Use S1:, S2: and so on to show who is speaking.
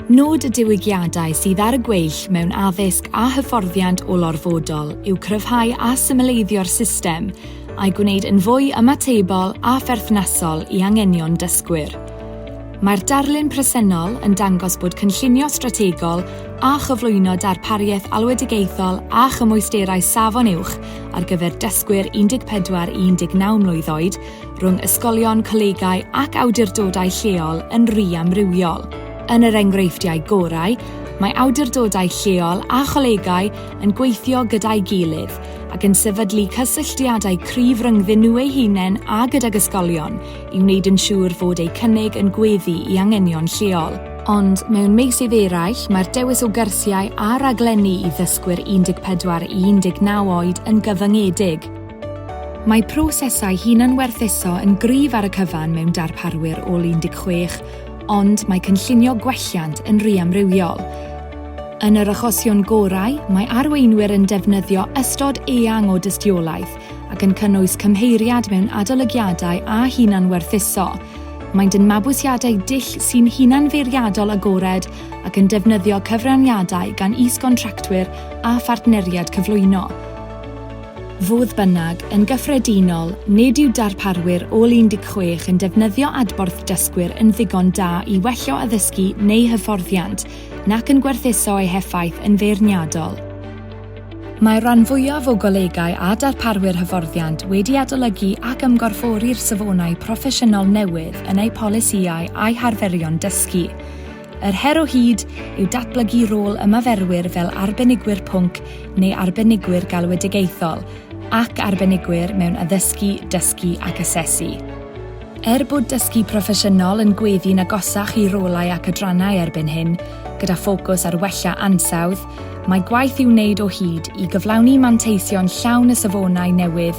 S1: Nod y diwygiadau sydd ar y gweill mewn addysg a hyfforddiant olorfodol yw cryfhau a symleiddio'r system a'i gwneud yn fwy ymatebol a pherthnasol i anghenion dysgwyr. Mae'r darlun presennol yn dangos bod cynllunio strategol a chyflwyno darpariaeth alwedigaethol a chymwysterau safon uwch ar gyfer dysgwyr 14 i 19 mlwydd oed rhwng ysgolion, colegau ac awdurdodau lleol yn rhy amrywiol. Yn yr enghreifftiau gorau, mae awdurdodau lleol a cholegau yn gweithio gyda'i gilydd ac yn sefydlu cysylltiadau cryf rhyngddyn nhw eu hunain a gydag ysgolion i wneud yn siŵr fod eu cynnig yn gweddu i anghenion lleol. Ond mewn meysydd eraill, mae'r dewis o gyrsiau a raglenni i ddysgwyr 14 i 19 oed yn gyfyngedig. Mae prosesau hunanwerthuso yn gryf ar y cyfan mewn darparwyr ôl 16, ond mae cynllunio gwelliant yn ry amrywiol. Yn yr achosion gorau, mae arweinwyr yn defnyddio ystod eang o dystiolaeth ac yn cynnwys cymheiriad mewn adolygiadau a hunanwerthuso. Maent yn mabwysiadau dull sy'n hunanfeirniadol agored ac yn defnyddio cyfraniadau gan is-gontractwyr a phartneriaid cyflwyno. Fodd bynnag, yn gyffredinol, nid yw darparwyr ôl 16 yn defnyddio adborth dysgwyr yn ddigon da i wellio addysgu neu hyfforddiant, nac yn gwerthuso ei heffaith yn feirniadol. Mae'r rhan fwyaf o golegau a darparwyr hyfforddiant wedi adolygu ac ymgorffori'r safonau proffesiynol newydd yn eu polisïau a'u harferion dysgu. Yr her o hyd yw datblygu rôl ymaferwyr fel arbenigwyr pwnc neu arbenigwyr galwedigaethol ac arbenigwyr mewn addysgu, dysgu ac asesu. Er bod dysgu proffesiynol yn gweddu'n agosach i rolau ac adrannau erbyn hyn, gyda ffocws ar wella ansawdd, mae gwaith i'w wneud o hyd i gyflawni manteision llawn y safonau newydd